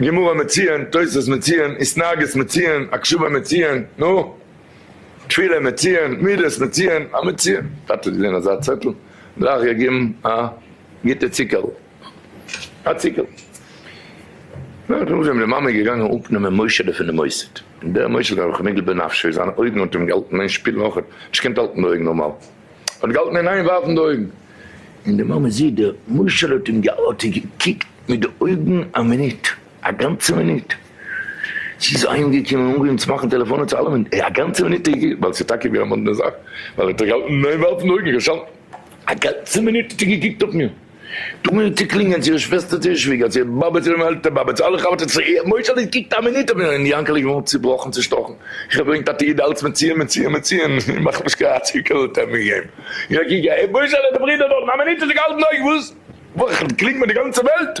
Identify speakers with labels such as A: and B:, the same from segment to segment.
A: גמרא מציון, תוספות מציון, התנהגות מציון, הקשבה מציון, נו? תפילה מציון, מידות מציון, א מציון. טאטע האט געזען אזא צעטל, גלייך געגעבן א גוטע ציקערל. א ציקערל. נאכן אויפגעבן די מאמע איז געגאנגען אפנעמען מוישעלע פונעם מוסד. און דער מוישעלע האט זיך נגעל בנפשו, זיינע אויגן האט אים געהאלטן אין שפיל נאכער, נישט געקענט האלטן די אויגן נארמאל. האט געהאלטן אין איין ווארפן די אויגן. און די מאמע זי ד משל האט אים האט איר געקוקט מיט די אויגן א מינוט, א גאנצע מינוט. זי איז אהיימגעקומען און אנגעהויבן צו מאכן טעלעפאנען צו אלעמען, א גאנצע מינוט האט איר געקוקט, ווייל ס'איז טאקע געווען א מאדנע זאך, ווייל ער האט איר געהאלטן אין איין ווארפן די אויגן, איך האב שוין א גאנצע מינוט האט איר געקוקט אויף מיר. דו מיר צו קלינגען צו איר שוועסטער צו איר שוויגער צו איר באבע צו איר עלטער באבע צו אלע חבר'טעס צו איר מוישעלע איז געקוקט א מינוט אויף אים און יאנקעלע איז געווארן צובראכן צושטאכן איך האב געברענגט א תיעוד אלץ מציון מציון מציון מאך נישט קיין הציקעלע האט ער מיר געגעבן און א קוק און מוישעלע די ברודער דארטן א מינוט האט ער געהאלטן אויך וואס וואך קלינגט מיר די גאנצע וועלט.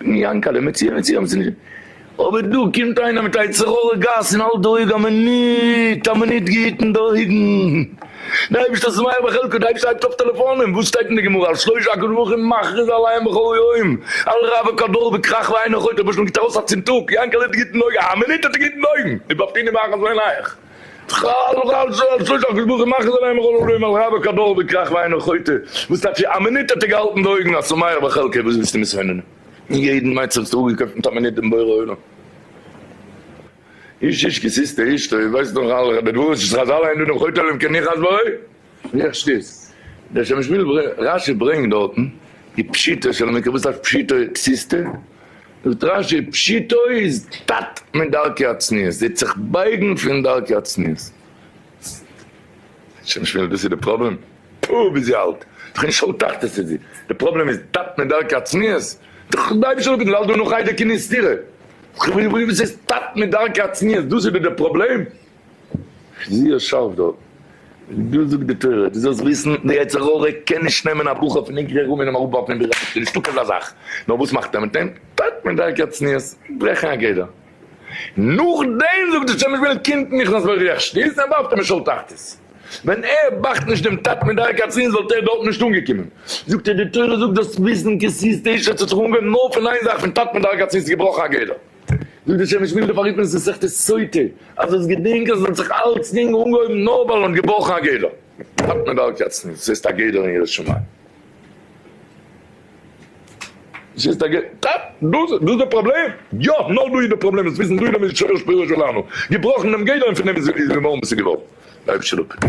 A: יענקעלע, מציאה מציאה האבן זיי נישט. אבער דא קומט איינער מיט א יצר הרע גאס און האלט די אויג א מינוט א מינוט געהיטן די אויגן. די אייבערשטער איז מאיר בחלקו, די אייבערשטער הייבט אויף טעלעפאנען, וואס שטייט אין די גמרא על שלושה הקדוש ברוך הוא מכריז על הים בכל יום, על רע וכל דור וכרך ואין אויך אויך, דער בעש ט גיבט ארויס א צינטוק, יענקעלע האט געהיטן די אויגן א מינוט האט ער געהיטן די אויגן, איז באפטיני ואחז עינייך. טראלל ראלל זאלל זאלל זאלל זאלל זאלל מאכן זאלל עמער ראלל עמער ראלל קא באלל די קראך וויינער חוטא וואס טאטש א מינוט האט ער געהאלטן די אויגן א שמח בחלקי וואס ווילסטו מיר ס'ווענדן אין יעדן מצב האסטו אפגעקויפט מיט א מינוט דעם בורא עולם איש איש כסיסתא איש טוב ווייסט נאך אלע רבי דברות שחזל אין דו דעם חוטא אלא אם כן ניחא אז בוי. איך שטיץ דער שמש וויל ברי', רש י ברענגט דארטן די פשיטא של המקרא, וואס הייסט פשיטא פשיסטא? זאגט רש י פשיטא איז תת מדרכי הצניעות, זיי האט זיך בייגן פון דרכי הצניעות. שמש וויל דאס איז די פראבלעם? פו ווי זי האלט דאך אין שאול תחתית איז זי, די פראבלעם איז תת מדרכי הצניעות? דאך די אייבישטער האט געזאגט וועלט דא נאך איידער קני סתירה, וואס איז תת מדרכי הצניעות? דאס איז דאך די פראבלעם? זי האט שארף דארט. דא זאגט די תורה, דו זאלסט וויסן, די יצר הרע קען נישט נעמען א בחור פון עיקרי רומי און אים אראפווארפן אין ביהמד, ס'איז נישטא כזה זאך, נאר וואס מאכט ער מיט אים? טייט מיט דרכי הצניעות, ברעכן א גדר. נאכדעם זאגט די שמש בנט קומט נכנס בריח שתית און ווארפט אים אין שאול תחתית. ווען ער באכט נישט דעם טייט מיט דרכי הצניעות וואלט ער דארט נישט אנגעקומען. זאגט ער, די תורה זאגט דאס וויסן כסיס תשע אז ס'האט זיך אנגעהויבן נאר פון איין זאך, פון טייט מיט דרכי הצניעות איז געבראכן א גדר. זאגט די שמש מילדע פאר היתמות מסכת סוטה, אז דאס געדענק אז עס האט זיך אלצדינג אנגעהויבן נאר ווייל מען האט געבראכן א גדר, האט מען דארט יעצט נישט, עס איז א גדר אין יראת שמים. עס איז א גדר, טאפ! דאס איז דאס דער פראבלעם? יא! נאר דא איז דער פראבלעם, עס וויסן דא איז דער משורש פירושו לנו, געבראכן דעם גדר און פון דעם איז געווארן וואס איז געווארן, אויב שלא כן.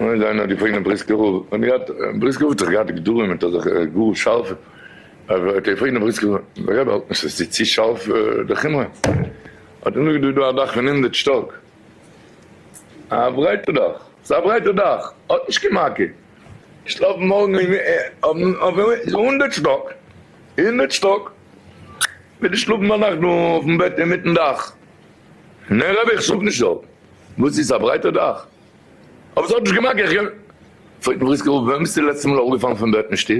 A: און זיי נאר געפרעגט דעם בריסקער רב, און געהאט, בריסקער רב האט זיך געהאט גדרים מיט אזעלכע גאר שארפע, האט ער געפרעגט דעם בריסקער רב, האלט נישט אז עס איז צו שארף די חומרא? האט ער נאכגעזאגט, דא איז א דאך פון הונדערט שטאק, א ברייטע דאך, עס איז א ברייטע דאך, האט נישט קיין מכה, איך שלאף מארגן אויף הונדערט שטאק, הונדערט שטאק. וויל נישט שלאפן ביינאכט דא אויפן בעט אינמיטן דאך. נע רבי איך שלאפ נישט דארט. וואס איז א ברייטע דאך? אבער ס'האט נישט געמאקט איך קען. פרעגט אים בריסקער אפ ווען ביסטו די לעצטע מאל אראפגעפאלן פון בעט אין שטוב?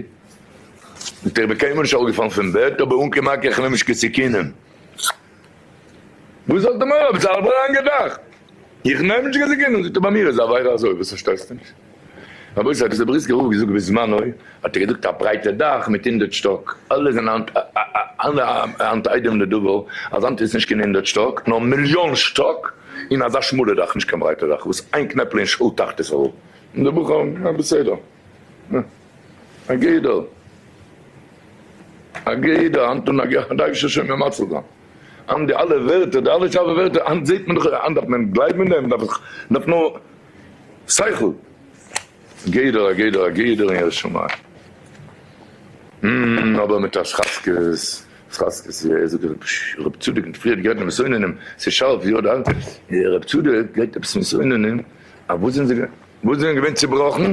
A: זאגט ער איך בין קיינמאל נישט אראפגעפאלן פון בעט אבער אן קען מאקט איך נעם נישט קיין סיכונים. וואס האט די מוהרא ש ז ל אריין געדאכט? איך נעם נישט געזאגט גענוג זאגט ער ביי מיר איז די עבירה אזוי וואס פארשטייסטו נישט? רבותי האט עס די בריסקער רב געזאגט בזמנו האט ער געזאגט א ברייטע דאך מיט הונדערט שטאק אלע זענען היינט היינט איידעם לדבר אז היינט איז נישט קיין הונדערט שטאק נאר מיליאן שטאק און אזא שמאלע דאך נישט קיין ברייטע דאך וואס איין קנעפל אין שאול תחתית און די בחורים אה בסדר אה א גדר. א גוט יעדער היינט אן א גוט דארף נישט השם מיר מציל זיין היינט די אלע ווערטער די אלע שארפע ווערטער היינט זעהט מען דאך היינט דארף מען גלייבן אין דעם דארף דארף נאר שכל א גוט יעדער א גוט יעדער אין ירא שמים המממ אבער מיט א שחזקות שחזקות יא ער זאגט עפעס רבי צדוק האט פריער גערעדט מיט מסעוננים ס'איז שארף יא דאן רבי צדוק רעדט עפעס מיט מסעוננים אז וואס זענען זיי וואס זענען געווען צובראכן.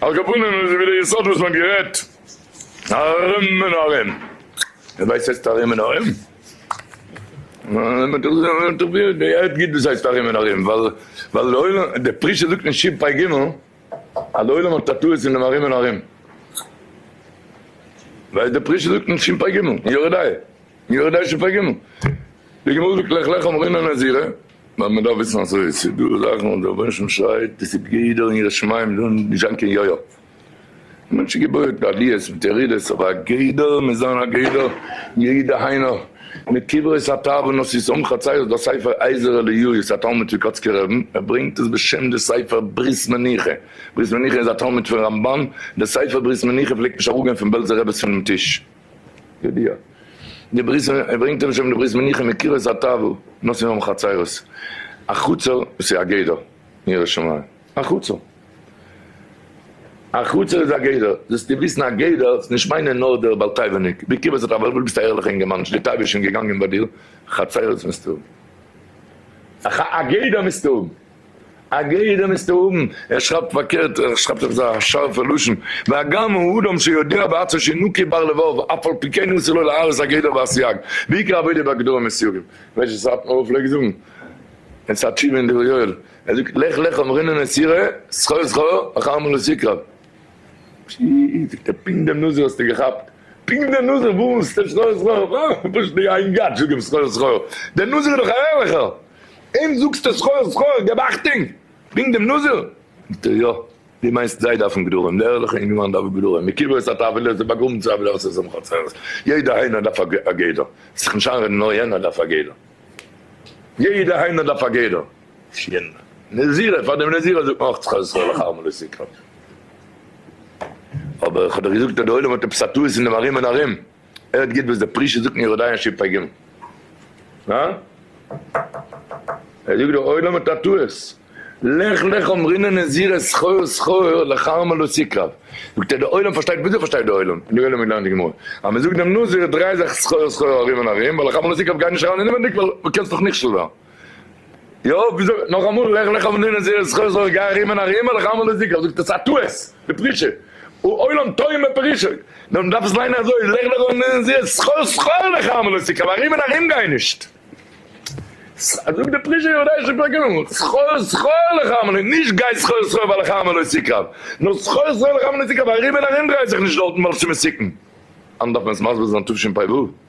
A: על כפנים איז ווי די יסוד וואס מען האט גערעדט ארום און ארום. ווער ווייסט הייסט ארום און ארום? מען האט דאך געהערט גוט וואס הייסט ארום און ארום ווייל די עולם, די פרי ש זאגט אין ש פ ג אז די עולם האט א טעות אין דעם ארום און ארום. ווייל די פרי ש זאגט אין ש פ ג, אין יורה דעה, אין יורה דעה ש פ ג, די גמרא זאגט לך לך אמרינן נזירה לאמיר דאך וויסן אזוי, ס'איז דא זאכן וואס דער רבונו של עולם שרייט דאס איז גדר און יראת שמים זאל נישט זיין קיין יו י, די מענטש איז געבויעט מיט עליות מיט ירידות אבער א גדר מוז זיין א גדר, יעי' דהיינו מיט קברות התאוונות איז סמוך הציון דאס ספר אייזער אליהו ס'א תלמיד פון קאצקער רבין ער ברענגט עס בשם די ספר ברית מנוחה, ברית מנוחה איז א תלמיד פון רמבן, די ספר ברית מנוחה פלעגט נישט אראפגיין פון בעלזער רעבעס פונעם טיש. ידיעה. די ברית, ער ברענגט אונז שוין די ברית מנוחה מיט קירות הטאוועל נושאים אום חצרות, א חצר וואס איז א גדר אין ירושלים, א חצר, א חצר איז א גדר, זאלסטו וויסן א גדר איז נישט מיינען נאר דער בעל תיבה ניק, ווי קירות הטאוועל, וואס ביסטו א ערליכע אינגערמאן נישט די תיבה איז שוין געגאנגען ביי דיר, חצרות מיזטו האבן, א גדר מיזטו האבן. א גדר מיזטו האבן, ער שרייבט פארקערט, ער שרייבט אויף אזא שארפע לשון, והגם הוא אדם שיודע בעצמו שאין נוקי בר לבב, אף על פי כן אסור לו להרוס א גדר והסייג, ועיקר עבודה בגדרים מסייגים. ווייסט וואס סאטמאר רב פלעגט זאגן? אין ס'א תשובה אין דברי יואל, ער זאגט לך לך אמרינן נסירה, זכור זכור, אחר מלאות יקרב. שיט, זאגט ער, פונקט דעם נוסח האסטו געכאפט? פונקט דער נוסח וואס? זכור זכור? פשוט די איין גאט זאגט אים זכור זכור. דער נוסח איז דאך א הערליכער! אים זאגסטו סחור סחור, געב אכטונג, ברענג דעם נאזער. זאגט ער יא, דו מיינסט זיי דארפן גדרים, דער ערליכע אינגערמאן דארף גדרים, מקוואות א טאוועלע איז באגראבן צו עבירות און שמחות צרות, יעדע היינו דארף א גדר, זיך נישט איינרעדן נאר יענער דארף א גדר, יעדע היינו דארף א גדר, שיין, נזירה, פאר דעם נזירה זאגט מען אויך סחור סחור לאחר מלא סקרן, אבער איך האב דאך געזאגט אז דער עולם האט עפעס א טעות אין דעם ארום און ארום. ער האט געהערט וואס די פרישע זאגט אין יורדאיאן שי פ ג. ער זאגט דער עולם האט א טעות, לך לך אמרינן נזיר את שכור שכור לכרמל לא יקרב, זאגט ער דער עולם פארשטייט, וויאזוי פארשטייט דער עולם, און דער עולם האט געלערנט די גמרא אז מען זאגט דעם נזיר דריי זיך שכור שכור ארום און ארום ווייל לכרמל לא יקרב גיי נישט אריין אינעווענדיג ווייל דו קענסט דאך נכשל ווערן. יא, ווי זאגט נאך אמאל, לך לך ונהנה זרע זכר זרע גר ארימה און ארימה לך עמל לזיכר, זאגט ער ס'א טעות, בפרישה, העולם טועה מפרישוי, נאר מ'דארף עס ליינען אזוי, לך לך ונהנה זרע זכר זכר לך עמל לזיכר, ארום און ארום גיי נישט. אזוי זאגט די פרישע יודעישע פרקים, זכר זכר לך עמל, נישט גיי זכר זכר ווייל לך עמל לזיכר, נאר זכר זכר לך עמל לזיכר, ארום און ארום דריי זיך נישט דארטן ווייל ס'מסוכן. אנדערש דארף מען עס מסביר זיין תשפ ו.